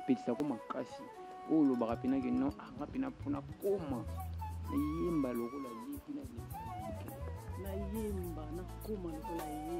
epelisako makasi oyo olobaka mpena ke non anga mpena mpona koma nayemba lokola ye mpena nayemba nakoma lokola ye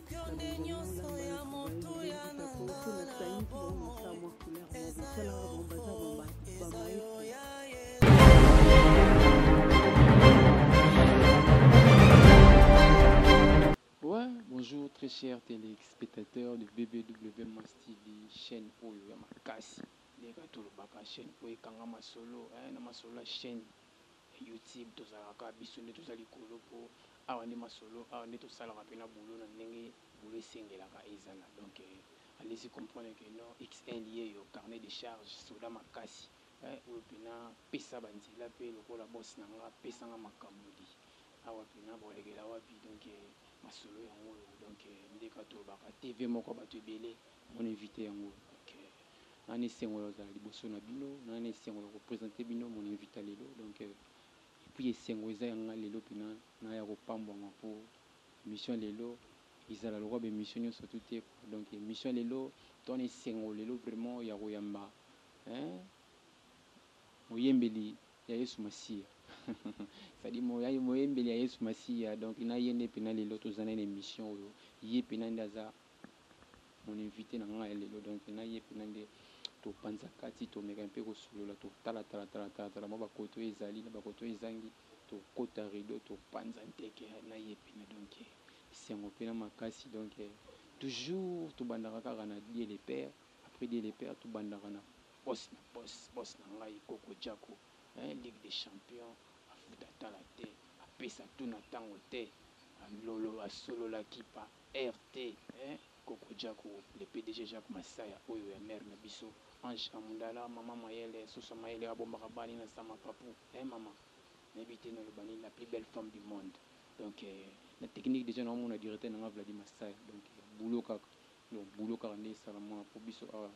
Bonjour très chers téléspectateurs de BBW Mass TV, chaîne Oyo ya Makasi. Ndeka tolobaka chaîne Oyo ekanga masolo, hein, na masolo ya chaîne YouTube tozalaka kaka biso nde toza likolo po awa nde masolo awa nde tosalaka pena boulot na ndenge boulot esengelaka ezala donc allez-y comprendre que non XL yeyo carnet de charge soda makasi eh oyo pena pesa ba nzela pe lokola boss na nga pesa nga makamuli awa pena bolekela wapi donc masolo yango oyo donc nde ka tolobaka TV moko batu ebele Mon invite yango donc nga na esengo ya kozala liboso na bino, nga na esengo ya ko presenter bino mon invite ya lelo donc et puis esengo eza ya nga lelo pena naya ko pambwama po emission ya lelo ezala lokola ba emission nionso tout te quoi donc emission ya lelo toza na esengo lelo vraiment ya koyamba hein moyembeli ya Yesu Masiya c'est à dire moyembeli ya Yesu Masiya donc na ye nde pena lelo toza na ye na emission oyo ye pena nde aza Mon invite na nga ya lelo donc na ye pena nde to panza kati to meka mpe ko solola to tala tala tala tala tala mwa ba kote oyo ezali na ba kote oyo ezangi to kota rideau to panza nteke na ye pena donc esengo pena makasi donc toujours to bandaka kaka na Dieu le père après Dieu le père to bandaka na boss na boss boss na ngai koko jacko hein ligue des champions afuta atala te apesa tuna tango te alolo asolola kipa. Heure te eh koko jacko le pdg jacko masaya oyo ya mère na biso ange a mundala maman mayele soso mayele oyo abombaka bana ina sa mapapu eh mama nayebi te naloba nini la plus belle femme du monde donc na technique dejà nao mona directeur na nga vladi masaya donc boulot kaka donc boulot kaka nde esala mwana po biso awa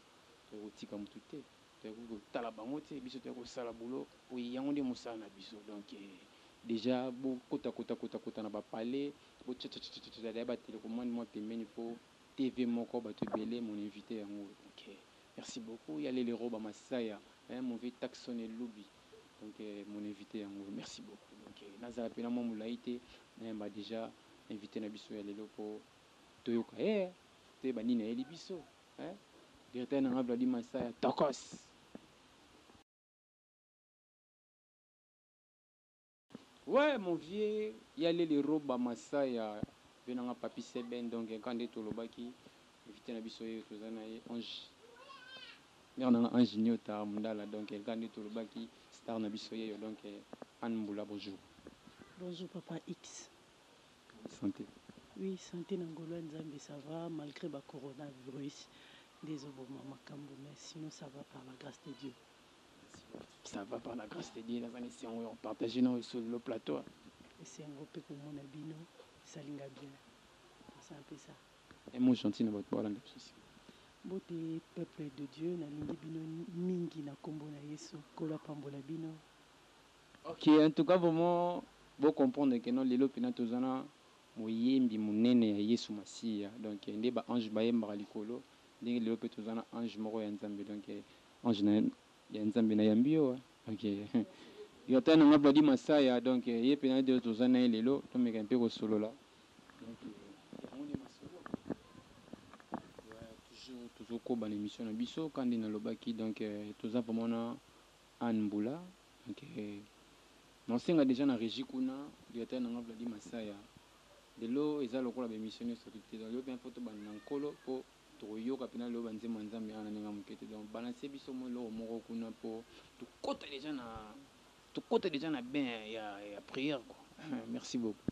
tokoki kotika mutu te. Toyaki kotala bango te biso toyaki kosala boulot po yango nde musala na biso donc dejà bo kota kota kota kota na ba palais bo tsha tsha tsha tsha dejà ba telecommande mua pembeni po TV moko batu ebele mon invite yango oyo donc merci beaucoup ya lele roba masaya eh mauvais taxon elubi donc mon invite yango oyo merci beaucoup donc nazala pena mua mulayi te nayamba dejà invite na biso ya lelo po toyoka ye toyeba nini ayeli biso. Eeh directeur na nga Vladi Masaya tokoss. Ouais mon vieux ya lele roba masaya vieux na nga papy seben donc ya kande to lobaki invite na biso ye toza na ye ange mère na nga ange niota mundala donc ya kande to lobaki star na biso yeyo donc anne mbula bonjour. Bonjour papa X sante. Oui sante na ngolu ya nzambe ça va malgre ba corona virus nde ezo boma makambu mais sinon ça va par la grace de Dieu. Ça va par la grace de Dieu naza na esengo ya ko partager na yo sur le plateau. Esengo pe komona bino esali nga bien posa pesa. Un mot gentil na batu balanda biso sima. Mbote peuple de Dieu nalingi bino mingi na kombo na yesu nkolo apambola bino. Ok en tout cas vraiment bo comprendre que non lelo pena toza na moyembi munene ya yesu masiya donc nde ba ange bayembaka likolo ndenge lelo pe toza na ange moko ya nzambe donc ange na ya nzambe na yambi yo donc gratteur na nga vladi masaya donc ye pena nde toza na ye lelo tomeka mpe kosolola donc yango nde masolo toujours tozokoba na emission na biso ka nde nalobaki donc toza vraiment na Anne Mbula ok nao senga dejà na regie kuna directeur na nga Vlady Masaya lelo eza lokola ba emission nioso soki te donc lelo penza faut tobanda na nkolo po toko yoka penza lelo ba nzembo ya nzambe awa na ndenge ya muke te donc balancer biso mua eloko moko kuna po tokota dejà na tokota dejà na bain ya ya prière quoi merci beaucoup.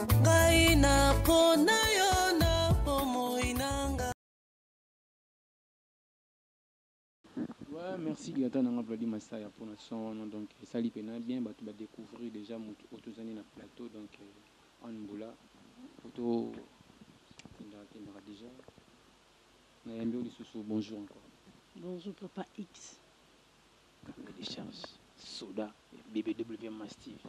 merci dilata nanga vladi masaya mpona son wana donc esali mpena bien bato badécouvrir déjà motu oyo tozali na plateau donc euh, anne mbula poto kendaka kendaka déjà nayambi yo lisusu bonjour encore bonjour papa x Combien de chance soda BBW Mastiff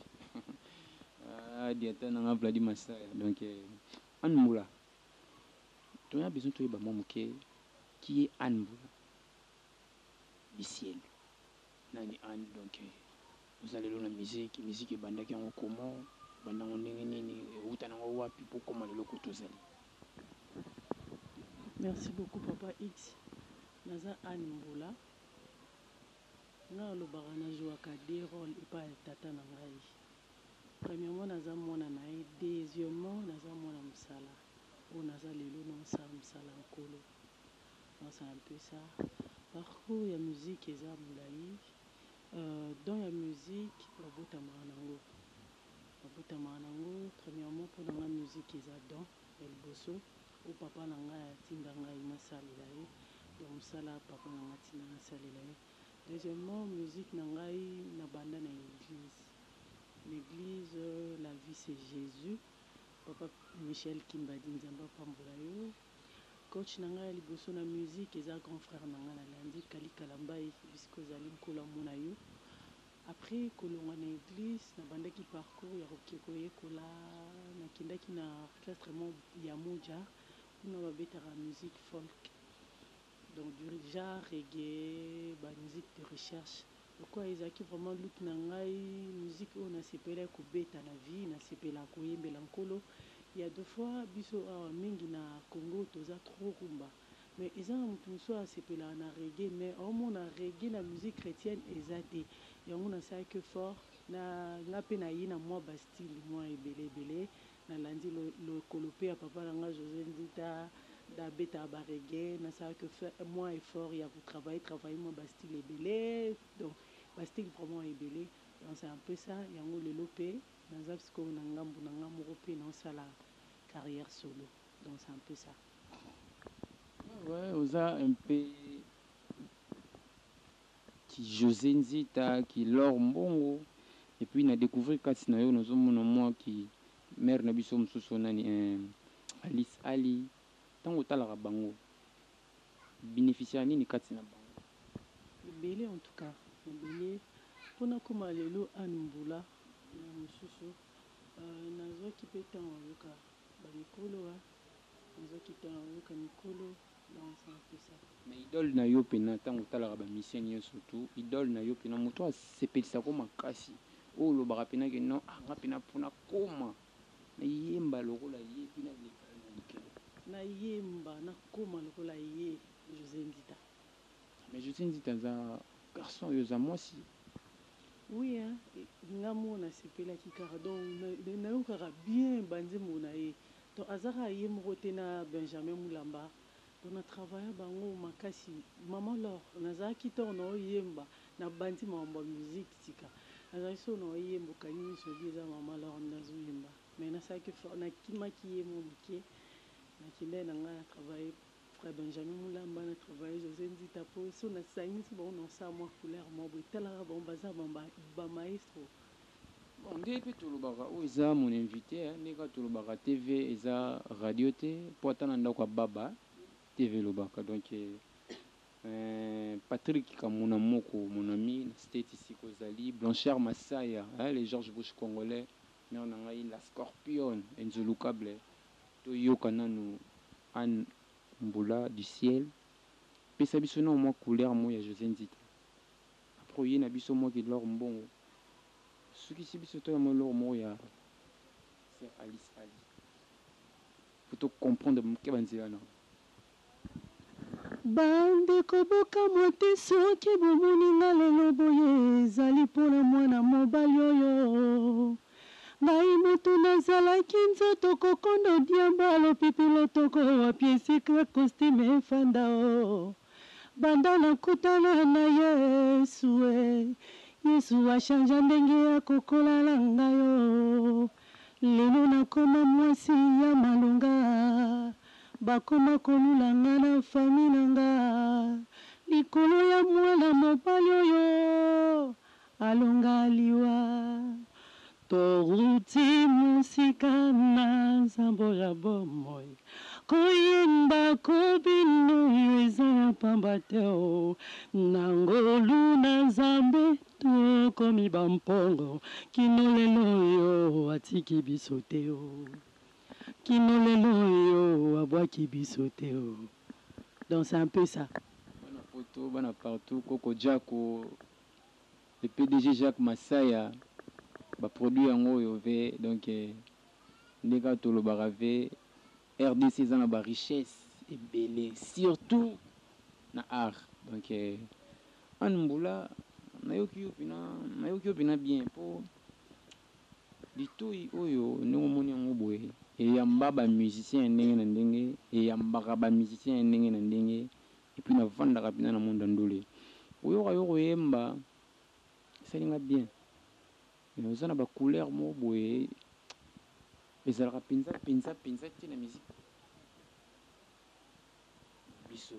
ah diata na nga Vladi Masaya donc Anne Mbula toya besoin toyeba mwa moke qui est Anne Mbula Bisielu nani Anne donc oza lelo na musique musique ebandaki yango comment ebanda yango ndenge nini ewuta na yango wapi po koma lelo koto ozali Merci beaucoup papa X naza Anne Mbula. Nga na lobaka na jouaka deux roles epa ya tata na ngai. Premièrement naza mwana na ye, deuxièmement naza mwana musala oyo naza lelo nao sala musala ya nkolo. Donc c'est un peu ça. Parcours ya musique eza mulayi, don ya musique babotamaka nango, babotamaka nango. Premièrement pona nga musique eza don. Ya liboso oyo papa na ngai atinda ngai na salela ye donc musala ya papa na ngai atinda na salela ye deuxièmement musique na ngai na banda na eglise na eglise la vie c'est Jesus papa Michel Kimbadi nzambe apambola yo coach na ngai ya liboso na musique eza grand frère na ngai na landi Kally Kalambay bisika ozali nkolo amona yo Après kolongwa na eglise, nabandaki parcours ya koke koyekola, nakendaki na orchestre moko ya Moja, kuna babetaka musique folk, donc du genre reggae, ba musiques de recherche, lokola ezalaki vraiment lutte na ngai, musique oyo nasepelaki kobeta na vie, nasepelaka koyembela Nkolo, il ya de fois biso awa mingi na Congo toza trop rumba, mais eza na mutu mususu oyo asepelaka na reggae mais omona reggae na musique chretienne eza te yango nasalaki effort na nga pe na ye na mua ba style mua ebele ebele na landi lokolo pe ya papa na nga Jose Nzita nde abetaka ba reggae nasalaki mua effort ya ko travailler travailler mua ba style ebele donc ba style vraiment ebele donc c'est un peu ça yango lelo pe naza sikoyo na ngambu na nga moko pe nao sala carrière solo. Oza un peu ki Jose Nzita, ki L'or Mbongo et puis na decouvrir kati na yo nazo mona mua ki mère na biso mosusu nani eh Alice Ali, tango otalaka bango o beneficiaka nini kati na bango? Ebele en tout cas ebele po nakoma lelo Anne Mbula na mosusu nazuaki pe temps oyoka Ba mikolo wa nazo kita na oyoka mikolo ba nsa pesa. Mais idole na yo pena tango otalaka ba misiens nioso tu idole na yo pena mutu asepelisa ko makasi oyo olobaka pena ke non ah nga pena po na koma na yemba lokola ye epuis na leka ye na likalo. Na yemba na koma lokola ye Jose Ndita. Mais Josy Nzita aza garçon yo oza mwasi. Oui hein nga moko na sepelaki kaka donc na yokaka bien ba nzembo na ye donc aza kaka ye moko te na Benjamin Mulamba donc na travailla bango makasi maman l'or nazalaki tord na yo yemba na bandi makambo ya musique sika nazalaki solo na yo yemba okangi miso olobi eza maman l'or nde azo yemba mais na salaki effort na kimaki ye mua muke na kendaki na nga na travailler Frère Benjamin Mulamba na travailler Jose Nzita po soki na sangisi bango nako sala mua couleur moko boye tala kaka bango baza ba maestro. Bon nde pe tolobaka oyo eza mon invite hein nde kaka tolobaka TV eza radio te po ata na ndaku ya baba TV elobaka donc eeh Patrick kamuna moko mon ami na state esika ozali Blanchard Masaya hein le George Bush congolais mère na ngai la scorpione inzulukable To yoka nanu Anne mbula du ciel pesa biso nao mwa couleur moko ya Jose Nzita après oye na biso mwa ki l'or mbongo osukisi biso toya mwa eloko moko ya sœur Alice Ali po to comprendre muke ba nzela nao. Ba ndeko bokamwa te soki bomoni nga lelo boye ezali pona mwana mobali oyo ngai mutu nazalaki nzoto kokondo diamba lopipi lotoko wapi esika costume efanda oh banda na kutana na yesu eh yesu a changea ndenge ya kokola na ngai oh lelo nakoma mwasi ya malonga ah Bakoma kolula nga na famille na nga likolo ya muana mobali oyo alonga liwa towuti musika na nzambo ya bomoi koyemba ko bino yo eza ya pamba te oh na ngolu na nzambe tokomi ba mpongo kino lelo oyo atiki biso te oh. Kino lelo oyo abwaki biso te oh donc c'est un peu ça. Bana poto bana partout koko jako le pdg Jacques Masaya ba produit yango oyo ve donc nde kaka tolobaka ve rdc eza na ba richesse ebele surtout na art donc Anne Mbula nayoki yo pina nayoki yo pina bien po Litoyi oyo ndenge omoni yango boye eyamba ba musiciens ya ndenge na ndenge, eyambaka ba musiciens ya ndenge na ndenge et puis na fandaka penza na monde ya ndule. Koyoka yo koyemba esali nga bien mais oza na ba couleurs moko boye ezalaka penza penza penza te na musique na biso.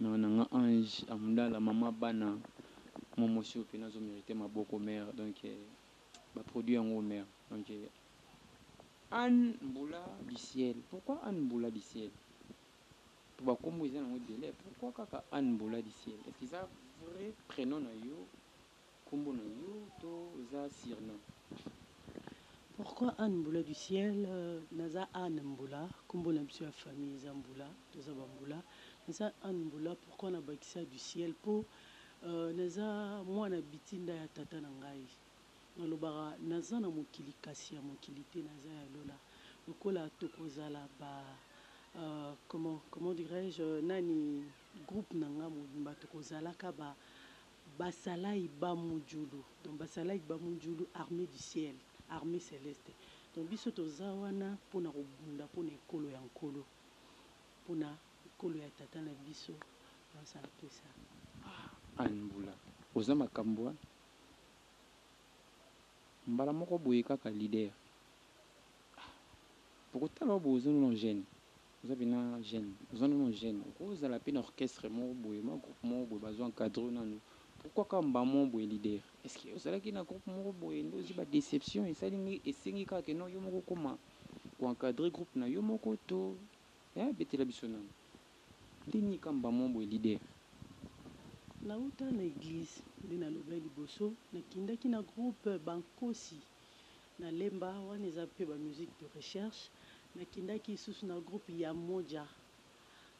Mère na nga ange amdala maman bana momo sur que nazo merite maboko mère donc ba produit ya ngo mère donc Anne mbula du ciel pourquoi Anne mbula du ciel po ba kombo eza nango ebele pourquoi kaka Anne mbula du ciel est ce que eza vrai prenom na yo Kombo na yo to eza surnom? Pourquoi Anne Mbula du ciel? Naza Anne Mbula, kombo na biso ya famille eza Mbula, toza ba Mbula. Naza Anne Mbula, pourquoi na bakisa du ciel? Po naza mwana bitinda ya tata na ngai. Na lobaka naza na mokili kasi ya mokili te, naza ya lola. Lokola toko zala ba comment comment dirais-je nani groupe na nga mobimba toko zalaka ba Basalayi ba mojulu donc basalayi ba mojulu armee du ciel armee celeste donc biso toza wana pona kobunda pona ekolo ya nkolo pona ekolo ya tata na biso nionso apesa ah anne mbula oza makambu hein mbala moko boye kaka leader ah bokotala yo bozo nuna jeune. Oza pena jeune oza nanu jeune oko zala pe na orchestre moko boye ma groupe moko boye bazo encadre yo nanu pourquoi kaka mbaa moko boye leader est ce que ozalaki na groupe moko boye nde ozui ba deception esali esengi kaka ke non yo moko okoma ko encadre groupe na yo moko to hein betela biso nanu nde nini kaka mbaa moko boye leader. Na wuta na eglise nde na lobaki liboso na kindaki na groupe ba nkosi Na lemba, wana eza pe ba musique de recherche. Na kendaki lisusu na groupe Ya Moja,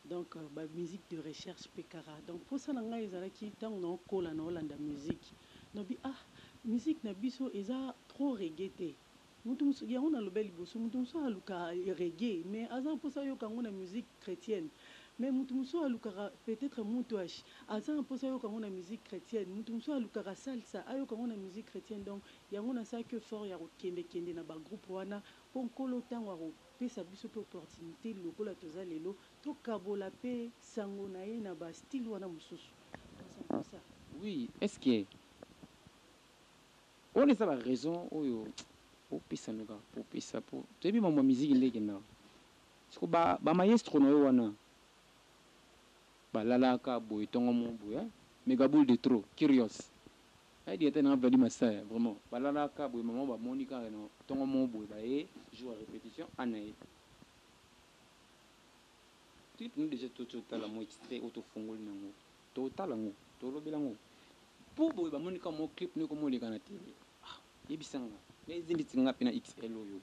donc ba musique de recherche pe kaka. Donc posa na ngai ezalaki tango nao kola, nao landa musique, nalobi ah musique na biso eza trop reggae te. Mutu mosusu, yango na lobeli liboso, mutu mosusu aluka reggae mais aza na posa ayoka yango na musique chretienne. Mais mutu mosusu alukaka peut etre mutuash, aza na posa ayoka yango na musique chretienne. Mutu mosusu alukaka salsa, ayoka yango na musique chretienne. Donc Yango nasalaki effort ya kokende kende na ba groupe wana po Nkolo tango akopesa biso pe opportunite lokola toza lelo, tokabola pe sango na ye na ba style wana mosusu. Kasi en plus ya. Oui est ce que wana eza ba raison oyo opesa noka kopesa po toyebi mambo ya miziki nde ekendaka siko ba ba maestro na yo wana balalaka boye tongo moko boye hein megaboule de trop curios Nayebi ata na Vladdy Masaya vraiment balalaka boye maman bamoni kaka na tongo moko boye baye jour ya repetition a naye clip no dejà to totala mwa extrait oyo tofongoli na yango totala yango tolobela yango po boye bamoni kaka mwa clip no ekoma oleka na tele ah yebisa nga na eza ndeti nga pe na xl oyo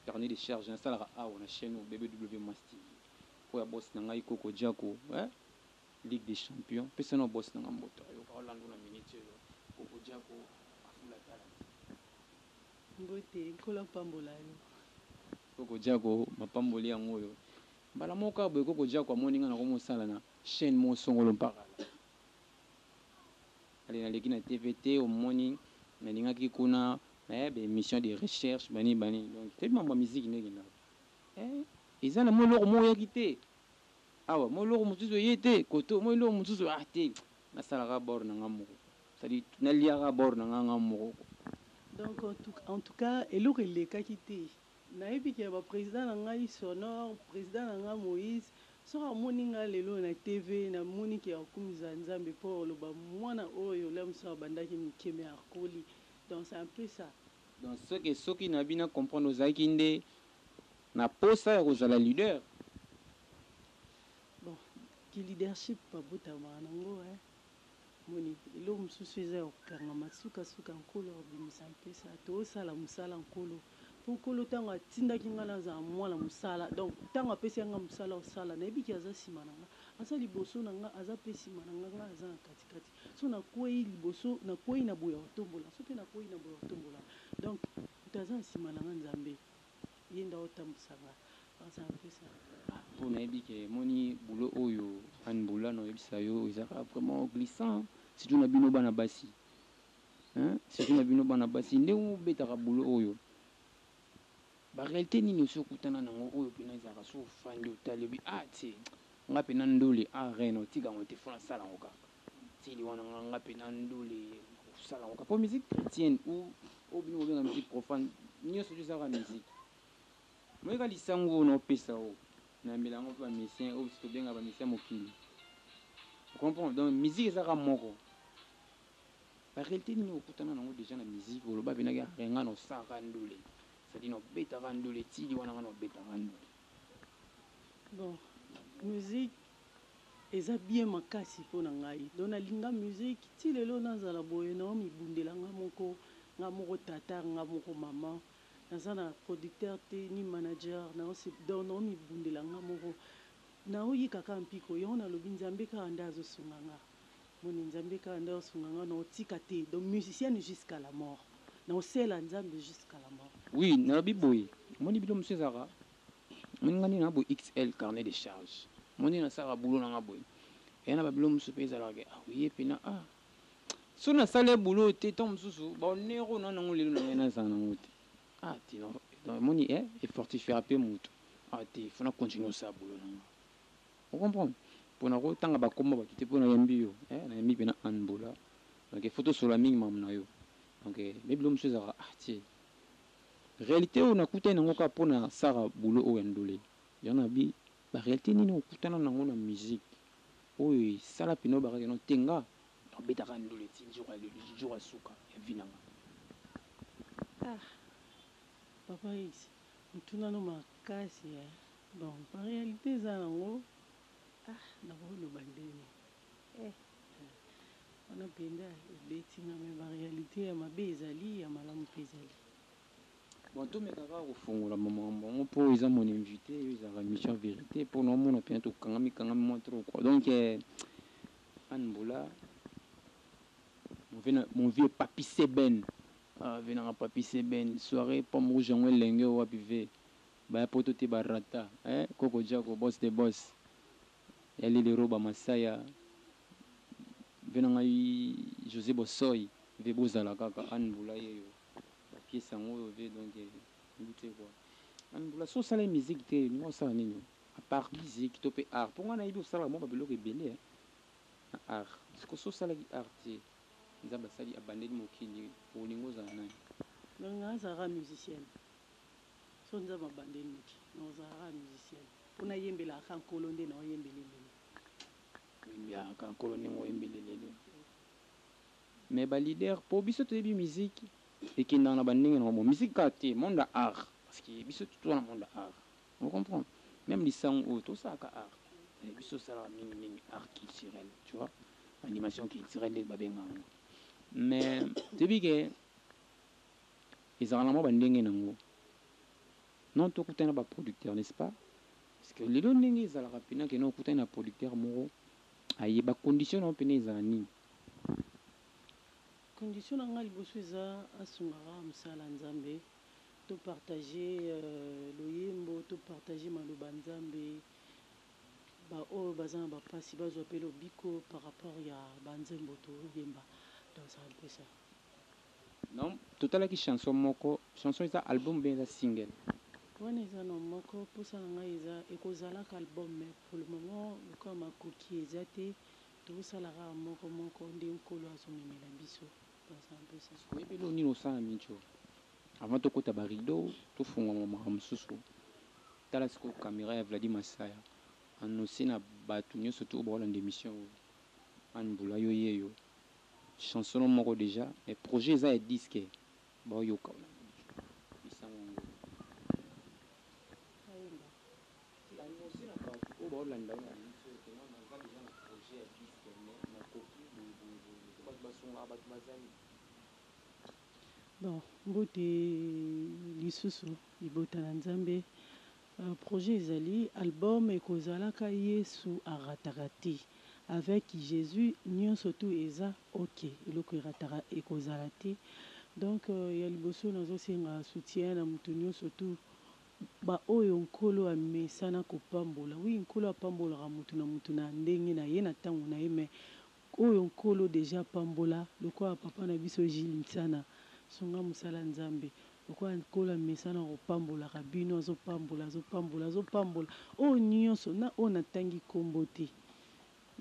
carnet de charge nasalaka awa na chaine oyo BBW Mass TV oyo ya boss na ngai Coco Jacko eh Ligue des champions pesa nao boss nanga mbote ayoka o landa na minute oyo koko jacko afula talent. Mbote nkolo apambola yo. Koko jacko mapamboli yango oyo mbala moko kaka boye koko jacko amoni nga nako mosala na chaine moko songolo mpaka ale naleki na TV te omoni nalingaki kuna eh ba emission de recherche banini banini donc toyebi mambo ya musique nde ekendaka eh eza na mwa eloko moko oyaki te Awa mwa eloko mosusu eye te, koto mwa eloko mosusu ah te, nasala kaka bord na nga moko, c'est-à-dire nalia kaka bord na nga nga moko ko. Donc en tout en tout cas eloko elekaki te, nayebi ke ba president na ngai Sonore, president na nga Moïse, soki amoni nga lelo na TV, namoni ke akumisa Nzambe po oloba mwana oyo là mosusu abandaki moke mais akoli, donc c'est un peu ça. Donc ce que soki na yebi na comprendre ozalaki nde na posa ya kozala leader? Bon ki leadership ba botamaka na ngo hein omoni eloko mosusu eza ya ko kangama suka suka nkolo ako bimisa mpesa to sala musala nkolo po nkolo tango a tindaki nga na zala mwana musala donc tango a pesi ya nga musala o sala na yebi ke aza sima na nga aza liboso na nga aza pe sima na nga nga na za na kati kati so na kweyi liboso na kweyi na boyi ako tombola so pe na kweyi na boyi ako tombola donc Moto aza na sima na nga nzambe yende ako tambwisa nga aza mpesa. Ah po nayebi ke moni boulot oyo anne boula na yebisa yo ezaka vraiment glissant surtout na bino bana basi hein surtout na bino bana basi ndenge obetaka boulot oyo ba realite nini osi okutana na ngo oyo pena ezalaka soki ofandi otali obi ah tse nga pena ndule ah reine otika ngo te fona sala ngo kaka Style wana nga nga pe na ndule nakosala yango kaka po musique chretienne ou oyo bino bobenga musique profane nionso wana eza kaka musique omoni kaka lisangu oyo naopesa oyo nayambela yango pe ba musicien oyo biso tobenga ba musicien ya mokili o comprendre donc musique eza kaka moko ba realite nini oyo okutana na yango deja na musique oloba penza ke nga naosalaka ndule c'est à dire naobetaka ndule style wana nga naobetaka ndule Bon music eza bien makasi pona ngai donc na linga music ti lelo na zala boye nao mi bundela nga moko nga moko tata nga moko maman naza na producteur te ni manager nao se donc nao mi bundela nga moko nao yika kaka mpiko yango na lobi nzambe kaka nde azo sunga nga. Moni nzambe kaka nde osunga nga nao tika te donc musicienne jusqu'à la mort nao sela nzambe jusqu'à la mort. Oui nalobi boye omoni bino mususu ezalaka omoni nga ndenge naza boye XL carnet de charge omoni ndenge nasalaka boulot na nga boye eya na ba biloko mususu pe ezalaka ke ah ye pena ah soki nasali ye boulot oyo te tango mususu ba honneur oyo naza nango lelo na ye nazala nango te ah te donc omoni eh e fortifiaka pe mutu ah te il faut na continuer kosala boulot na nga. O comprendre? Pona ko tanga ba kombo ya batu te po na yambi yo eh na yambi pena Anne Bola donc il faut to solola mingi makambo na yo donc eh nde biloko misusu ezalaka ah tse realite oyo na kutani nango kaka pona sara boulot oyo ya ndule yango na bi ba realite nini o kutana nango na musique oyo e sala pena o baka ke non te nga nao beta kaka ndule ti jour ya lelo jour ya suka ya vie na nga ah papa esi Motuna no makasi eh. Donc ba realite eza nango ah nakoki loba ndeni eh eh wana penza ebeti nga mais ba realite ya mabe ezali ya malamu pe ezali. Bon tomeka kaka kofongola ba makambo yango po eza mon invite oyo ezalaka emission ya verite po naomona penza tokangami kangami mua trop quoi donc Anne Mbola mon vieux Papy Seben Ah vie nanga papy seben soiree pomme rouge yango elenge oyo wapi vie baya poto te ba rata eh koko jako boss de boss ya lili roba masaya vie na ngai jose bosoy vie bozala kaka anne bula yeyo ba piece yango oyo vie donc nayebi te quoi anne bula soki osalaki musique te olinga osala nini a part musique to pe art po ngai nayebi osalaka mua ba biloko ebele eh na art sikoyo soki osalaki art te. Nzambe asali abandeli mokili olingi ozala nani? Donc na zalaka musicienne soki nzambe abandeli mokili nako zala kaka musicienne po na yembelaka kaka nkolo nde nao yembele lelo oyembelaka kaka nkolo ndenge oyembele lelo mais ba leader po biso toyebi musique ekendaka na ba ndenge na ngo musique kaka te monde ya art parce que biso tout toza na monde ya art O comprendre? Meme lisangu oyo to salaka art mais biso to salaka mingi mingi art culturel tu vois animation culturel ndenge ba benga yango mais to yebi ke ezalaka na mwa ba ndenge nango non to kutana ba producteur n'est ce pas? Parce que lelo ndenge ezalaka pena ke non okutani na producteur moko aye ba condition nango pena ezala nini? Condition na nga liboso eza asungaka musala ya nzambe. To partager loyembo to partager maloba nzambe ba oyo baza na ba pasi bazwa pe lobiko par rapport ya ba nzembo to yemba donc c'est un peu ça. Non totalaki chanson moko chanson eza album ou bien eza single? Wana eza non moko posa na ngai eza eko zalaka album mais pour le moment lokola makoki eza te toko sala kaka moko moko nde nkolo azo memela biso. Oyebi eloko nini osala mincho avant tokota ba rideaux tofungola makambo mosusu tala sikoyo camera ya Vladi Masaya annonce na batu nionso tout oyo bakolanda emission oyo Anne Mbula yo yeyo chanson no moko dejà mais projet eza ya disque baoyoka oyo na Mincho yebisa yango. Bon mbote lisusu libota na nzambe projet ezali album ekozalaka yesu arataka te avec jesus nionso tout eza ok eloko erataka ekozala te donc ya liboso nazosenga soutien na mutu nionso tout Baoyo Nkolo amesana kopambola. Oui Nkolo apambolaka mutu na mutu na ndenge na ye na tango na ye mais oyo Nkolo dejà apambola lokola papa na biso Jules Nsana sunga musala Nzambe lokola Nkolo amesana kopambolaka bino azo pambola azo pambola azo pambola oyo nionso na oyo na tangi kombo te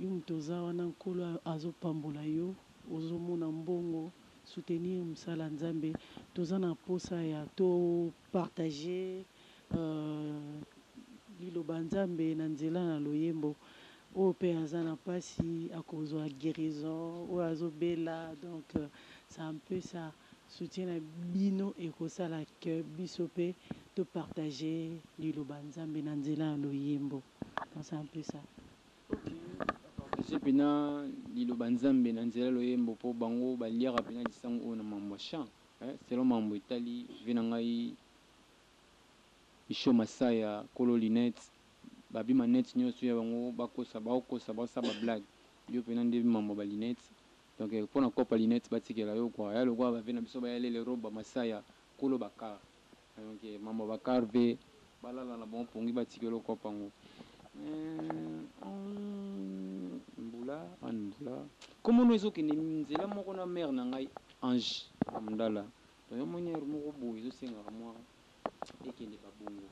Yo mutu oza wana nkolo azo pambola yo ozo mona mbongo soutenir musala ya nzambe toza na posa ya to partage liloba ya nzambe na nzela na loyembo oyo pe aza na pasi akozua guerison oyo azo bela donc sa un peu sa soutien na bino ekosala que biso pe to partage liloba ya nzambe na nzela ya loyembo donc sa un peu sa. Bapapatise pena Liloba Nzambe na nzela ya loyembo po bango baliaka pena lisangu oyo na mambo ya chant. Eh, selon mambo etali vie na ngai, Michaux Masaya, kolo lunette, babi manette nionso ya bango bakosa, baokosa, baosala ba blague. Yo pena nde bi mambo ya ba lunette. Donc pona coop ya lunette batikela yo quoi. Ya lokola ba vieux na biso ba ya lele Roba Masaya, kolo ba car. Donc mama ba car pe balala na bango pongi ba tikela okuapo yango eeh ooh mbula anne mbula kombo no ezo kende nzela moko na mère na ngai ange mdala donc yo moni heure moko boye ezo sengaka mua ekende ba bongo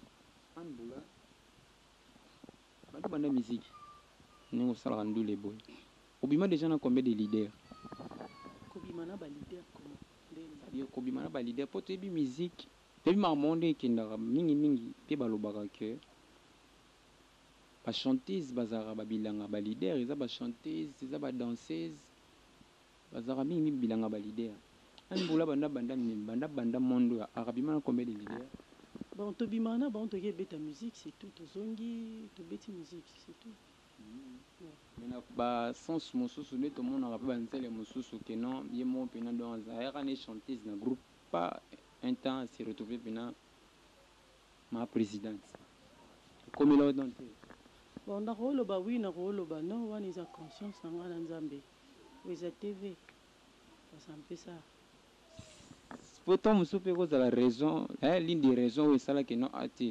anne mbula banda obanda miziki ndenge osalaka ndule boye obima dejà na combien de leader? Kobima na ba leader comment? nde ya kobima na ba leader po toyebi musique toyebi makambo yango nde ekendaka mingi mingi pe balobaka que ba chanteuses bazalaka ba bilanga ba leader eza ba chanteuses eza ba danseuses bazalaka mingi mingi bilanga ba leader Anny Mboula banda abanda banda abanda monde oyo art abima na combien de leader? Bon tobimaka na bango toke beta musique c'est tout tozongi tobeti musique c'est tout. Mais na ba sens mosusu nde tomonaka pe ba nzele mosusu que non ye moko pena donc aza yaka nde chanteuse na groupe pas un temps a se retrouver pena ma presidente ekomela yo donc te? Bon nako loba oui nako loba non wana eza conscience na nga na nzambe oyo eza TV. Po tango mosusu pe eko zala raison eh l'une des raisons oyo esala que non ah te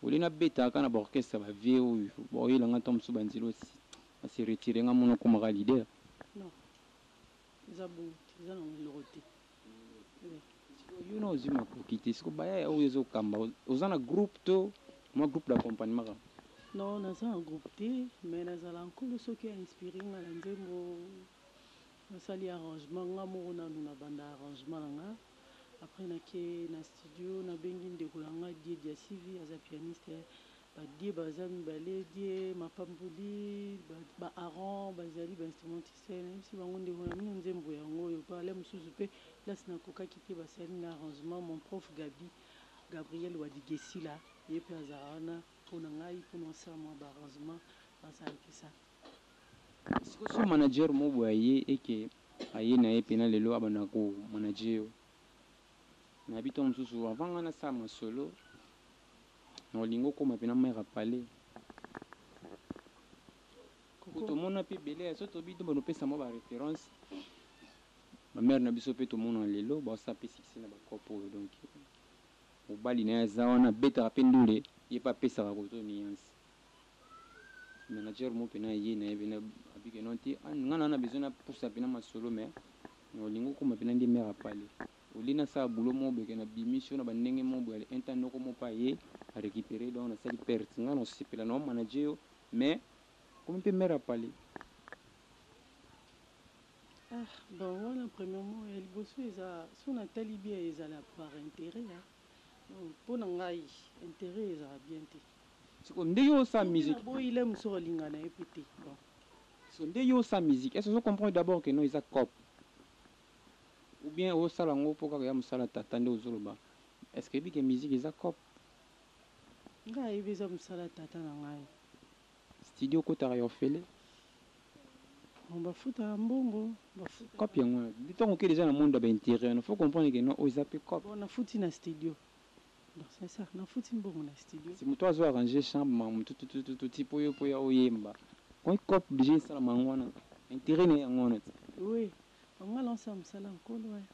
au lieu na beta ka na ba orchestre ya ba vieux oyo ba oyela nga tango mosusu ba nzilo ba se retirer nga mona okoma ka leader. Non eza bongo te eza nango eloko te oui. Sikoyo yo na ozui makoki te sikoyo ba yaya oyo ezo kamba oza na groupe to mua groupe d'accompagnement kaka? Non naza na groupe te mais na zala nkolo soki a inspirer nga na nzembo. Nasali arrangement nga moko nanu na banda arrangement na nga après na ke na studio na bengi ndeko na nga Die Diasivi aza pianiste ba Die baza mibale Die Mapamboli ba Aaron bazali ba instrumentiste na yebisi bango ndeko na bino nzembo yango oyo pe ale mususu pe place na kokaki te basali nga arrangement mon prof Gaby Gabriel Wadigesila ye pe azala wana pona ngai pona osala mua ba arrangement bazalaki sa. Sikoyo soki manager moko boye aye et que aye na ye pena lelo abanda ko manager yo nayebi tango mosusu avant ngai nasala masolo nako linga okoma pena mère ya palais po tomona pe ebele ya soki tobi tobanda kopesa mwa ba reference ba mère na biso pe tomona lelo bazo sala pe succès na ba coop oyo donc mobali na ye aza wana abetaka pe ndule ye pe apesaka koto nuance. Manager mo pena ye na ye pena abi que non te ah nga na na besoin na pusa pena masolo mais na olingi okoma pena nde mère apale au lieu na sala boulot moko boye que na bimisi yo na ba ndenge moko boye un temps noko moko pe aye a recuperer donc na sali perte nga na sepela na o manager yo mais okomi pe mère apale. Ah bon wana premierement ya liboso eza soki na tali bien ezala par interet hein donc pona ngai interet ezala bien te. Sikoyo nde yo osa music. Soki na boyi lem soko linga naye pe te bon. Sikoyo nde yo osa music est ce ozo comprendre d'abord que non eza coop ou bien ozo sala yango po kaka ya musala tata nde ozo loba est ce que oyebi que music eza coop. Nga na yebi eza musala tata na ngai. Studio okotaka ya ofele? Bon ba futaka mbongo ba futaka. Coop yango wana tango oke dejà na monde ya ba interieur wana faut comprendre que non oyo eza pe coop. Bon na futi na studio. Donc c'est ça na futi mbongo na studio. Mutu azo arranger chant ma mutu tutututu ti po yo po ya oyemba Oye coop dejà esalama yango wana interet naye yango wana ti. Oui bango ba lancer musala ya nkolo hein.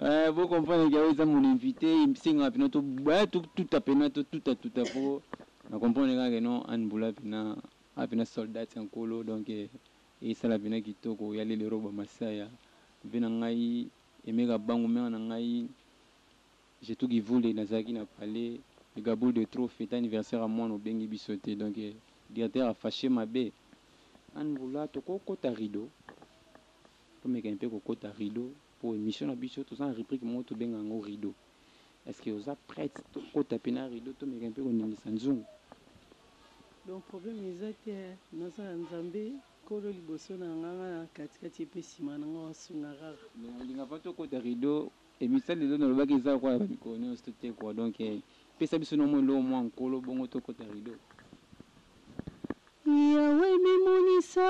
Eeh bo comprendre que oyo eza mon invite esengaka pena to eeh to tuta pena to tuta tuta po na comprendre kaka que non Anne Bula pena aza pena soldate ya nkolo donc esala pena kitoko ya lelero ba masaya vie na ngai Aime Kabangu mère na ngai je tout qui voulait nazalaki na palais le gabule de trop fete anniversaire ya mwana obengi biso te donc directeur a fache mabe anne bula toko kota rideau tomeka un peu ko kota rideau po emission na biso toza na rubrique moko tobenga yango rideau est ce que oza prete tokota pe na rideau tomeka un peu ko ningisa nzungu. Donc problème eza te hein naza ya nzambe. Nkolo liboso na nga nga na kati kati ye pe sima na nga osunga kaka. Mais na linga pas to kota rideau emission lelo na lobaki eza lokola ya ba mikolo nionso to te quoi donc pesa biso na mwa eloko mwa nkolo bongo to kota rideau. Yahweh mimonisa.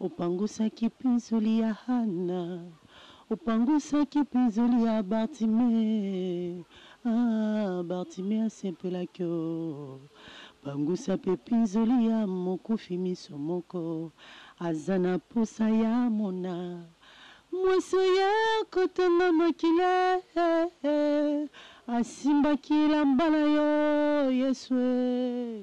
Opangusaki pinzoli ya Hana. Opangusaki pinzoli ya Bartime. Ah, Bartime asepelaki o. Pangusa mpe pinzoli ya mokufi miso moko. Aza na posa ya amona mwasi oyo akotanga makila eh, eh. Asimbaki elamba na yo, Yesu eh.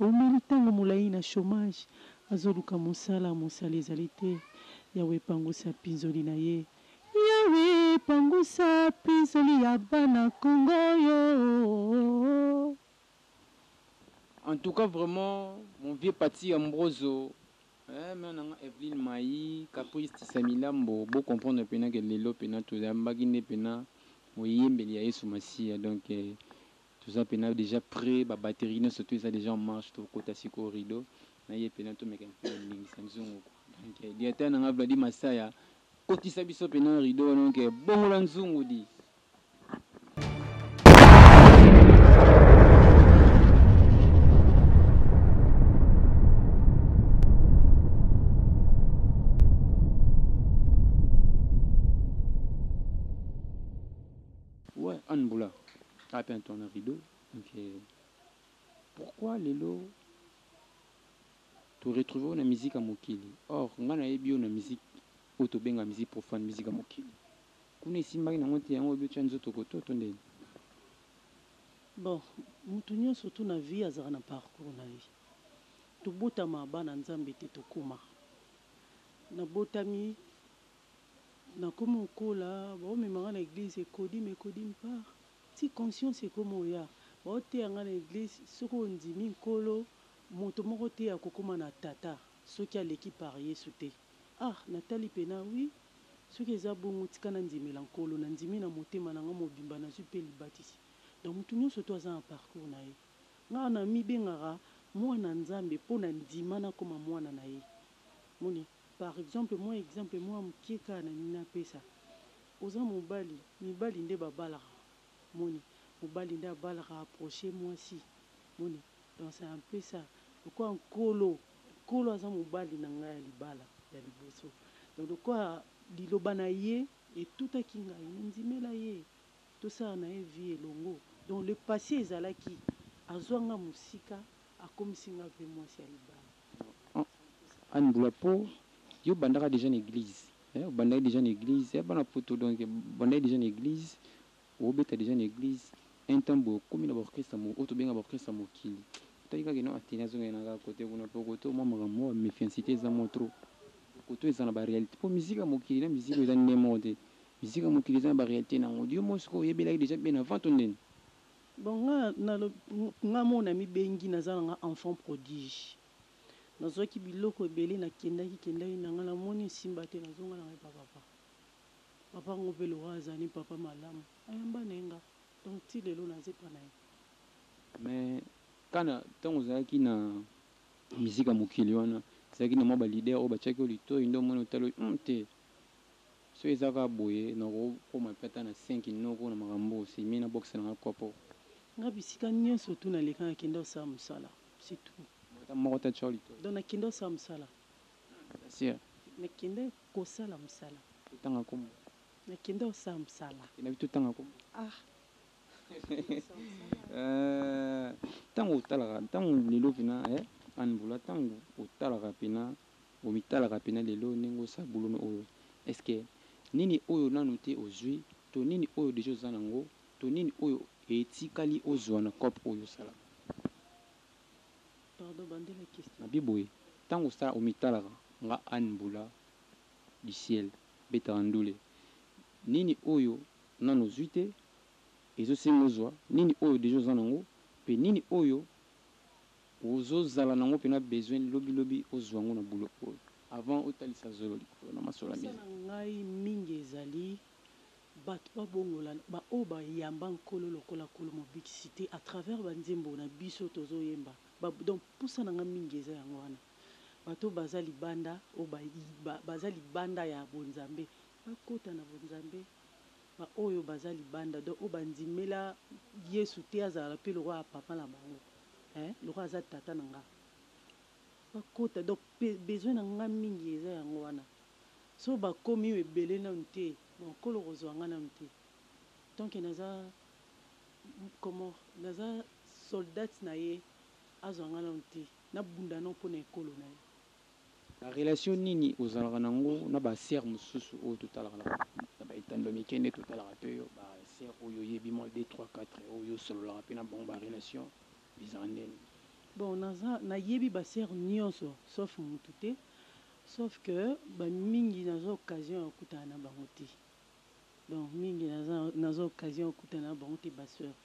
Awumeli tango molayi na chomage, azoluka mosala, mosali ezali te. Yaweh pangusa pinzoli na ye. Yaweh pangusa pinzoli ya bana Congo oyo ooh. En tout cas vraiment mon vieux Paty Ambrozo eh mère na nga Evelyne Mayi Caprice Tisamilambo bo comprendre pena que lelo pena toyambaki nde pena moyembeli ya Yesu Masiya donc Toza pena dejà pret ba batterie nionso tout eza dejà en marche to kota sikoyo rideau na ye pena to meka pe ko ningisa nzungu quoi donc directeur na nga Vladi Masaya kotisa biso pena rideau wana donc bongola nzungu di. Ouais anne bula. As peint ton rideau donc pourquoi lelo to retrouver yo na musique ya mokili or nga nayebi yo na musique oyo tobengaka musique profane musique ya mokili kuna esimbaki nango te yango olobi otia nzoto koto to ndeni? Bon mutu nionso tout na vie azalaka na parcours na ye tobotama bana nzambe te tokoma nabotami Nakomi kokola, baomema nga na eglise ekodim ekodim part ti conscience ekomi oya. Baoteya nga na eglise soki ondimi Nkolo, moto moko te akokoma na Tata soki aleki par Yesu te. Ah! Natali pena, oui, soki eza bongo tika nandimela Nkolo. Nandimi na motema na nga mobimba, nazwi pe libatisi. Donc moto nionso to aza na parcours na ye. Nga namibengaka mwana Nzambe po nandima nakoma mwana na ye. Omoni? Par exemple mwa exemple mwa mukie kaka na lingi napesa oza mobali mibali nde ba balaka omoni mobali nde abalaka approche mwasi omoni donc c'est un peu ça lokola nkolo nkolo aza mobali na ngai ya libala ya liboso donc lokola liloba na ye etutaki ngai na ndimela ye tosala na ye vie elongo donc le passe ezalaki azua nga mosika Akomisi nga pe mwasi ya libala. Anne Bula Po yo obandaka dejà na eglise eh obandaki dejà na eglise eh bana poto donc obandaki dejà na eglise obeta dejà na eglise un temps boye okomi na ba orchestre ya oyo tobenga ba orchestre ya mokili otali kaka ke non Atene azo kende na nga cote kuna po cote oyo mua makambo mua ba mefiancite eza mua trop cote oyo eza na ba realite po musique ya mokili na musique oyo eza ndenge moko te musique ya mokili eza na ba realite na yango yo moko sikoyo oyebelaki dejà bien avant to nini? Bon nga na nga moko na mibengi naza na nga enfant prodige nazwaki biloko ebele na kendaki kendaki na nga na moni esimba te na zonga na nga epa papa papa yango pe lokola azali papa malamu ayamba naye nga donc ti lelo naza epa na ye. Mais kana tango ozalaki na musique ya mokili wana ezalaki na mwa ba leader oyo batiaki yo litoyi nde omoni otali oyo hum te? Soki eza kaka boye nako koma pe ata na cinq noko na makambo oyo semi na bokisa na nga kopo. Nga bisika nionso otu na leka na kenda kosala musala c'est tout. Ata moko te atchor litoi. Donc na kenda kosala musala. Ata sir. Na kenda kosala musala. To tanga kombo. Na kenda kosala musala. Kenda pe to tanga kombo. Ah Eeh tangu otalaka tangu lelo pena eh Anne Bula tangu otalaka pena Omitalaka pena lelo ndenge osa boulome oyo est ce que nini oyo nanu te ozui to nini oyo deja oza na ngo to nini oyo etikali ozua na coop oyo osala mabe boye tango osala omitalaka nga anne mbula du ciel betaka ndule nini oyo nanu ozui te ezo senga ozua nini oyo deja oza na ngo pe nini oyo Ozo zala nango pena besoin lobi lobi ozua ngo na boulot oyo avant otalisa zolo likolo na masolo ya Mposa na musique. ngai mingi ezali bato babongola ba oyo ba yamba Nkolo lokola Nkolo Mobikisi te à travers ba nzembo na biso tozo yemba ba donc mposa na ngai mingi eza yango wana bato oyo baza libanda oyo ba baza libanda ya bonzambe bakota na bonzambe Ba oyo baza libanda donc oyo ba ndimela yesu te azalaka pe lokola papa na bango eeh lokola aza tata na nga ba kota donc besoin na nga mingi eza yango wana soki ba komi ebele nanu te bon nkolo okozua nga nanu te tant que naza comment naza soldate na ye azua nga nanu te na bunda nanu pona ekolo na ye. Na relation nini ozalaka na ngo na ba sœurs mosusu oyo to talaka na ba na ba etando ya mike nde to talaka pe yo ba sœurs oyo oyebi mwa deux trois quatre oyo o sololaka pe na bango ba relation ezalaka ndeni? Bon naza na yebi ba sœurs nionso sauf mutu te sauf que ba mingi naza occasion ya kutana na bango te donc mingi naza naza occasion ya kutana na bango te ba sœurs.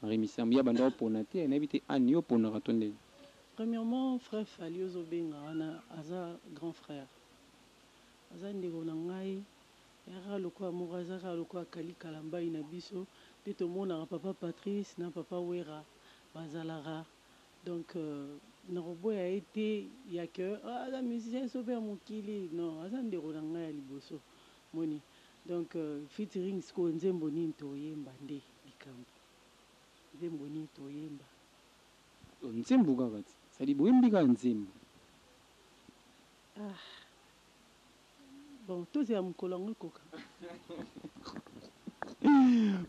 Henri Misamu ye abanda ko pona te nayebi te Anne yo oponaka to ndenge? Premièrement frère Fally ozo benga wana aza grand frère aza ndeko na ngai aza kaka lokola moko aza kaka lokola Kally Kalambay na biso nde tomonaka papa Patrice na papa Werra bazalaka donc nakoboya ye te ya que aza musicien sobe ya mokili non aza ndeko na ngai ya liboso Omoni donc featuring sikoyo nzembo nini toyemba nde likambu nzembo nini toyemba. Yo nzembo kaka ti sadi boyembi kaka nzembo. Ah bon tozela mukolo yango ekoka.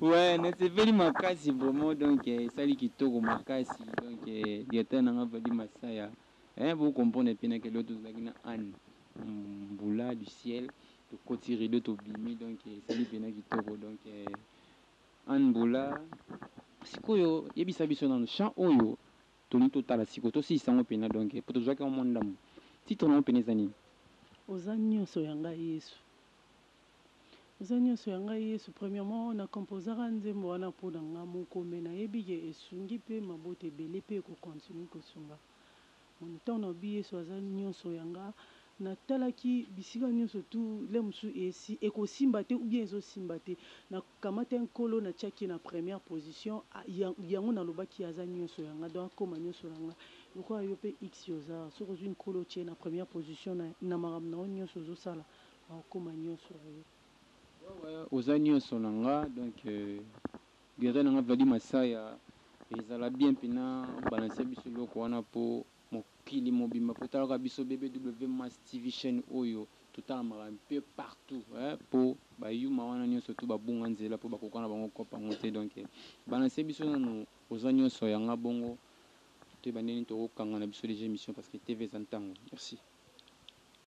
Ouais nasepeli makasi vraiment donc esali kitoko makasi donc directeur na nga Valdy Masaya. Eeh bo comprendre pe na ke donc tozalaki na Anny mbula du ciel tokoti rideau tobimi donc esali pena kitoko donc Anny mbula sikoyo yebisa biso nanu chant oyo tolingi totala sikoyo tosilisa yango pena donc po tozuaki yango mua ndambu titre nango pena eza nini? Oza nionso ya nga yesu Eza nionso ya ngai yesu premièrement na composaka nzembo wana po na nga moko mais na yebi ke esungi pe mabota ebele pe eko continue ko sunga mon temps na lobi yesu aza nionso ya nga na talaki bisika nionso tout lheure mosusu esi eko simba te ou bien ezo simba te na kamata nkolo na tiaki ye na première position yango na lobaki aza nionso ya nga donc akoma nionso na nga lokola yo pe xi oza soki ozui nkolo otie ye na première position na makambo na yo nionso ozo sala Okoma nionso na yo. Wawa oza nionso na nga donc guerrier na nga Vladi Masaya ezala bien pena o balancer biso eloko wana po mokili mobimba po talaka biso BBW Mass TV chaine oyo to talamaka un peu partout eh po ba yuma wana nionso tout ba bunga nzela po ba koka na bango coop ango te donc balancer biso nanu oza nionso ya nga bongo to yeba ndenge nini toko kanga na biso dejà emission parce que TV eza ntango merci.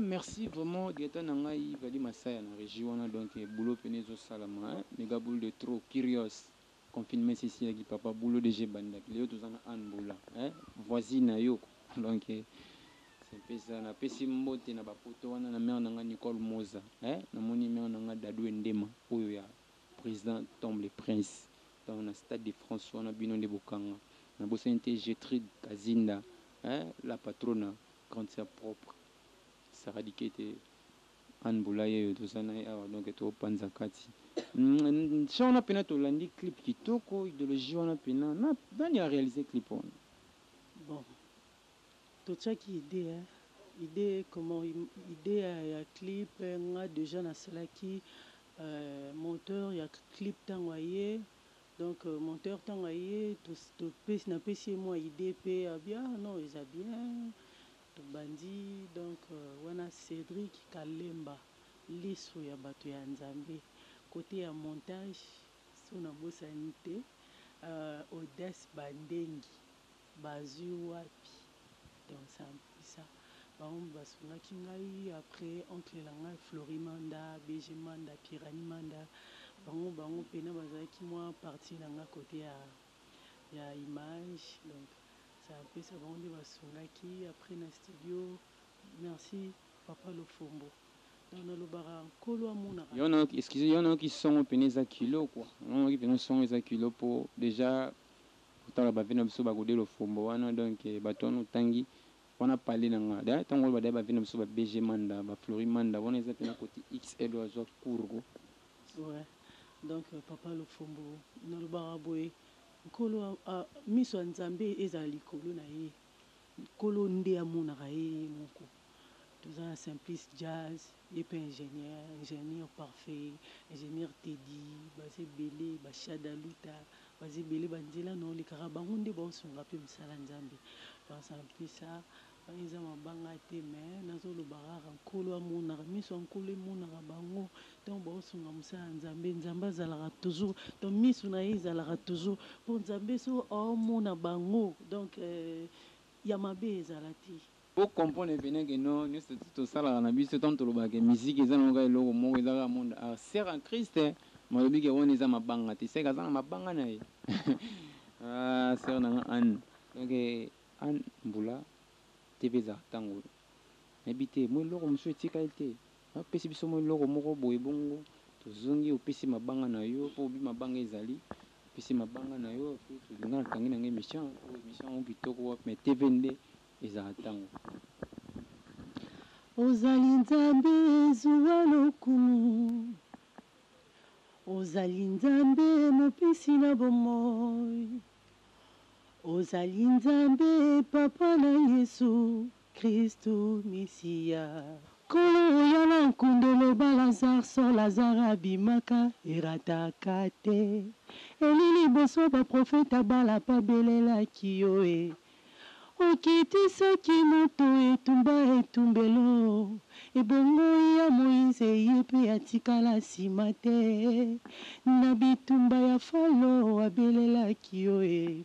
merci vraiment directeur na ngai vali masaya na régie wana donc eh, boulot pene ezosalama eh. mega boule de trop curios confinement esisiaki papa boulot deja ebandaki lelo toza na anne boula eh. voisine na yo donc eh, mpesa napesi mbote na bapoto wana na mare na ngai nicole moza eh. namoni mare na ngai dadou endema oyo ya President Tom le Prince donc na stade de France wana bino nde bokanga na bosani te Getrude Kazinda eh la patrona grande sœur propre Sarah Dikete Anne Bulayeyo toza naye awa donc to panza kati hum chant wana pena tolandi clip kitoko idologie wana pena na nani a realiser clip wana bon. Totiaki idee hein idee comment idee ya clip nga dejà nasalaki monteur ya clip tango aye donc monteur tango aye topesi napesi ye mua idee pe alobi ah non eza bien tobandi donc wana Cedric kalemba lisu ya batu ya nzambe cote ya montage soki nabosani te Audace bandengi Bazui wapi donc c'est impuissant bango nde ba sungaki ngai après oncle na ngai Flory Manda, BG Manda, Pirani Manda bango bango pena bazalaki mua partie na ngai cote ya ya image donc c'est impuissant bango nde ba sungaki après na studio merci papa Lofombo donc na lobaka nkolo amonaka. Yo nayoki excuse yo nayoki songo pena eza kilo quoi nayoki pena songo eza kilo po dejà Kotala ba vie na biso ba gode lofombo wana donc batu wana otangi wana palais na nga d'ailleurs tango oloba d'ailleurs ba vie na biso ba BG manda ba flory manda wana eza pena cote XL oyo azua cour ko Ouais donc papa lofombo nalobaka boye nkolo a miso ya nzambe ezala likolo na ye. Nkolo nde amonaka ye ye moko. Toza na Simplice Jazz, ye pe ingenieur, ingenieur Parfait, ingenieur Teddy, baza ebele, ba Shada Luta, baza ebele ba nzela na olekaka bango nde bao sunga pe musala Nzambe. Donc ça en plus ça, wana eza mabanga te mais nazo loba kaka Nkolo amonaka, misu ya Nkolo emonaka bango Tango bao sunga mosala ya Nzambe, Nzambe azalaka toujours, donc misu na ye ezalaka toujours po Nzambe, soki ao mona bango donc ya mabe ezala te. Bo comprendre et venez que non nioso to salaka na biso tango tolobaka que musique eza nango kaka eloko moko eza kaka monde art sert en Christ mais alobi que wana eza mabanga te seke aza na mabanga na ye aah sœur na nga Anne donc Anne mbula TV ezalaka tango oyo nayebi te moi eloko mosusu etikali te Ba pesi biso mwa eloko moko boye bongo to zongi opesi mabanga na yo po obi mabanga ezali opesi mabanga na yo apres to nga na kangi na nga emission po emission yango kitoko wapi mais TV nde ezala tango Ozali Nzambe zuwa lokumu Ozali Nzambe mopesi na bomoi Ozali Nzambe papa na Yesu Kristu Mesiya. Nkolo oya na nkundo loba Lazare sort Lazare abimaka erataka te Eli liboso ba prophète abala pa belelaki yo e Okitisaki moto etumba etumbelo Ebongo ya Moïse ye pe atikala sima te Na bitumba ya Falo abelelaki yo e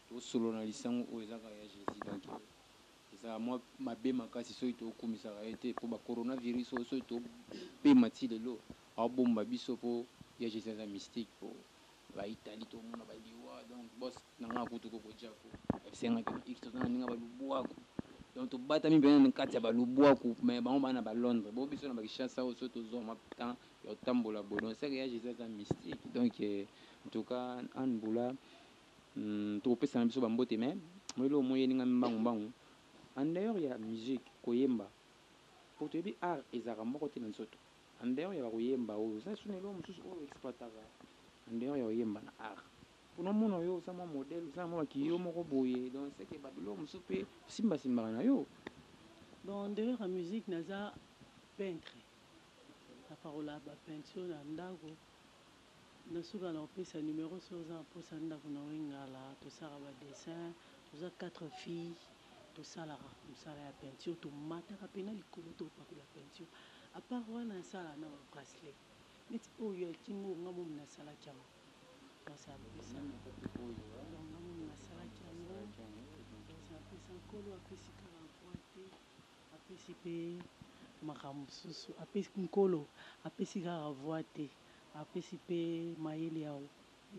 To solo na lisangu oyo eza kaka ya Jesus donc ezalaka mwa mabe makasi soki to kumisaka ye te po ba corona virus oyo soki to pema ti lelo ao bomba biso po ya Jesus aza mystique po ba Italie to mona ba liwa donc boss na nga kutu koko Jacko esenga ke ba X toza na ninga ba lubwaku donc to batami pena na kati ya ba lubwaku mais bango ba na ba Londres bo biso na ba Kinshasa oyo soki to zua mwa temps ya ko tambola boye donc ce que ya Jesus aza mystique donc en tout cas Anne Bula Tokopesana biso ba mbote mais moi eloko moi eyeli ngai mbangu mbangu en dehors ya musique koyemba po toyebi art ezalaka moko te na nzoto en dehors ya bakoyemba oyo oza lisusu na eloko mosusu oyo exploitaka en dehors ya koyemba na art po na omona yo oza mwa modèle oza na mwa bakiye yo moko boye donc ce que ba biloko mosusu pe osimba simbaka na yo donc en dehors ya musique naza peintre na pakola ba peinture na ndako. Na suka nako pesa numero soki oza na posa ndaku na wengala tosalaka ba dessin toza quatre filles tosalaka musala ya peinture tomataka pe na likolo to pakola peinture a part wana na salaka na ba bracelet neti oyo ya kingo oyo nga momi na salaki yango mwasi a pesa donc nga momi na salaki yango mwasi a pesa nkolo a pesi kaka voix te a pesi pe makambo mosusu a pesi nkolo a pesi kaka voix te. apesi pe mayele ya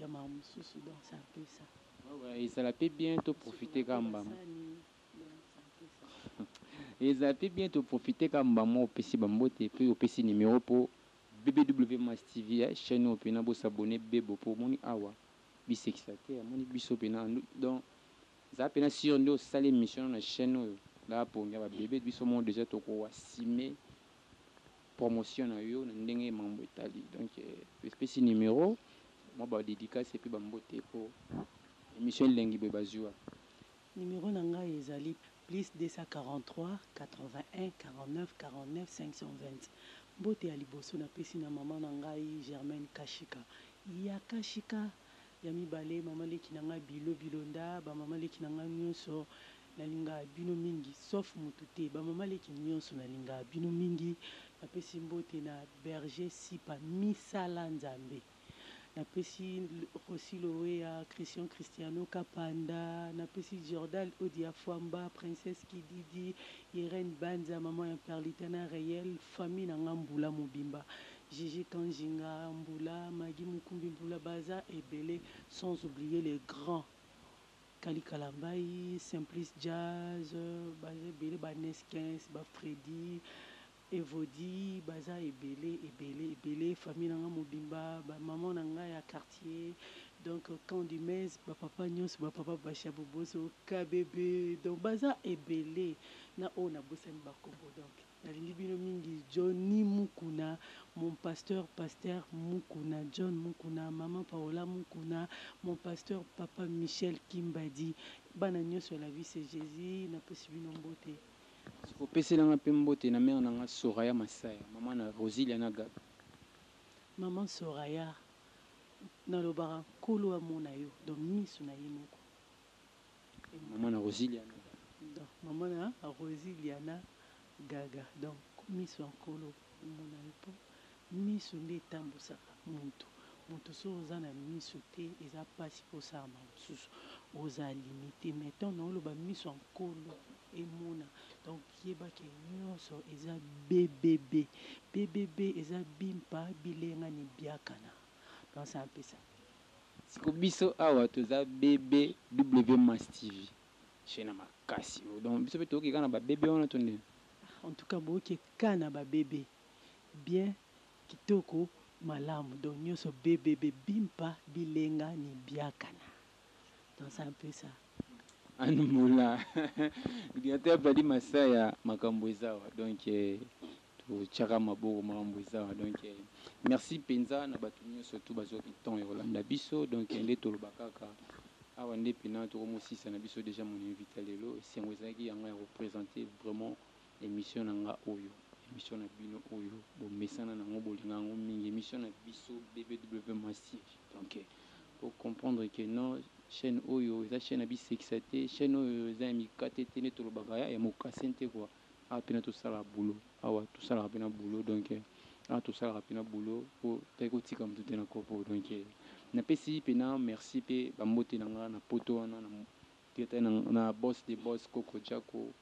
ya mawa mosusu donc ça peut ça. Ezala pe bien to profiter ka mbambu Ezala pe bien to profiter ka mbambu opesi ba mbote pe opesi numero po BBW Mass TV chaine oyo pena bo s'abonner bebo po omoni awa bisekisa te amoni biso pena en donc zala pena sur nde osali emission na chaine oyo naba pongi yaba bebe biso moko dejà toko assumer promotion na yo na ndenge mambo etali donc epesi numero mwa ba dedicace epuis ba mbote po emission elengi boye ba zua. Numero na ngai ezali plus 243 81 49 49 520 mbote ya liboso na pesi na maman na ngai Germaine Kashika ya Kashika Ya mibale maman leki na nga Bilo Bilonda ba maman leki na nga nionso na linga bino mingi sauf mutu te ba maman leki nionso na linga bino mingi na pesi mbote na Berger Sipa misala nzambe na pesi Rossy Loweya Christian Christiano Kapanda na pesi Jordal Odia Fwamba Princesse Kididi Irène Banza maman ya Perlita na Reyel famille na nga mbula mobimba Gigi Kanjinga, Mbula, Maggy Mukumbi Mbula baza ebele sans oublier les grands Kally Kalambayi, Simplice Jazz baza ebele ba Neskens, ba Freddy, Evody baza ebele ebele ebele famille na nga mobimba ba maman na nga ya quartier donc camp du Maize ba papa nionso ba papa Basha Boboso, KBB donc baza ebele na oyo nabosani ba kombo donc. Nalingi bino mingi Johnny mukuna mon pasteur pasteur mukuna John mukuna maman paola mukuna mon pasteur papa Michel kimbadi bana nionso ya la vie c'est Jesus na pesi bino mbote. Sikoyo pesela nga pe mbote na mère na nga Soraya Masaya maman na Rosilia na Gaby. Maman Soraya nalobaka nkolo amona yo dans misu na ye moko. Maman na rosiliana gaga. Maman na rosiliana gaga donc misu ya nkolo omona ye po misu nde etambusaka mutu mutu soki oza na misu te eza pasi po osalama mususu oza limite mais tango na oloba misu ya nkolo emona donc yeba ke nionso eza BBB BBB eza bimpa bilenga ni biakana donc c'est un peu ça. Siko biso awa toza BBW Mass TV chez na makasi oh donc biso pe toke kaka na ba BB wana to nini? Ah en tout cas boke kka na ba BB bien kitoko malamu donc nioso BBB bimpa bilenga ni biakana donc c'est un peu ça. Anne Mbula, Coordinateur Fally Masaya makambu eza awa donc Totiaka maboko makambo eza awa donc merci penza na batu nioso tout bazuaki temps ya kolanda biso donc nde toloba kaka awa nde pena tokomosisa na biso dejà mon invite ya lelo esengo ezalaki ya nga ya ko presente vraiment emission na nga oyo emission na bino oyo bomesana na yango bolinga yango mingi emission na biso BBW Massive donc bo comprendre que non chaine oyo eza chaine ya bisekisa te chaine oyo eza ya mikate te nde tolobaka ya mokase nte quoi. Awa pena tosala boulot awa tosalaka pena boulot donc awa tosalaka pena boulot po tali kotika mutu te na kopo donc na pesi pena merci pe ba mbote na nga na poto wana na directeur na nga na boss de boss koko jacko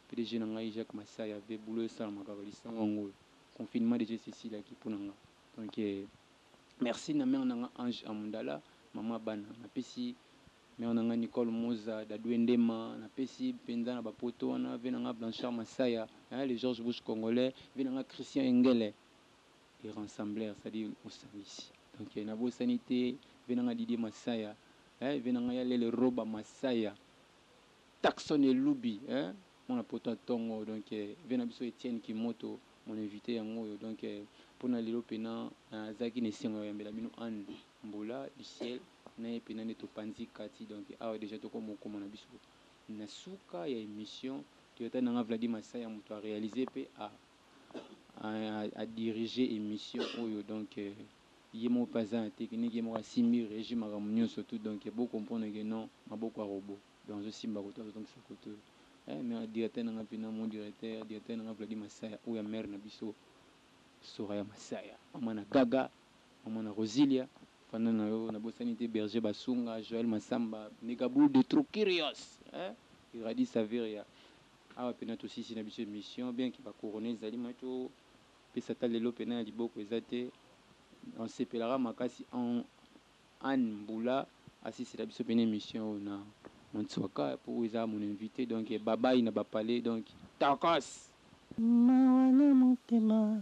pdg na ngai jacque masaya ve boulot esalama kaka lisangu yango oyo confinement deja esi esilaki po na nga donc merci na mère na nga ange amundala maman ya bana na pesi Mère na ngai Nicole Moza Dadue Ndema na pesi penza na ba poto wana vie na ngai Blanchard Masaya eeh le George Bush congolais vie na ngai Christian Engele le ransembler c'est à dire mosambisi donc na bosani te vie na ngai Didier Masaya eeh vie na ngai ya lele Roba Masaya Tackson Elubi eeh mwana poto ya tongo donc vie na biso Etienne Kimoto mon invite yango oyo donc pona lelo pena na zalaki na esengo ya koyambela bino Anne Mbula du ciel. Kuna ye pena nde topanzi kati donc awa dejà toko mokoma na biso na suka ya emission toyata nanga Vladi Masaya mutu a realiser pe a a diriger emission oyo donc ye moko pe aza na technique ye moko asimbi regie makambo nionso tout donc bo comprendre que non maboko ya robot donc azo simba koto azo zongisa koto eh mais directeur nanga pena mon directeur directeur nanga Vladi Masaya oyo ya mère na biso Soraya Masaya maman na gaga Maman na Rosilia fanda na yo nabosani te Berger Basunga, Joël Massamba, Megaboul de trop curious hein Iradi Saveria awa pena tosisi na biso emission bien que ba corona ezali mais to pesa ata lelo pena ya liboko eza te na sepelaka makasi Anne Mbula asisela biso pena emission oyo na Mansuaka po oyo eza mon invite donc bye bye na ba palais donc tokos. Mawa na motema.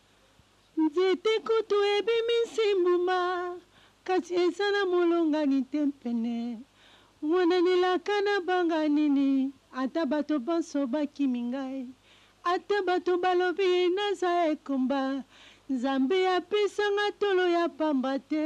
Nzete kutu ebimisi mbuma, kasi eza na molongani te pene. Mwana n'elaka nabanga nini? Ata bato banso bakimi ngai, ata bato balobi naza ekomba, Nzambe apesa nga tolo ya pamba te,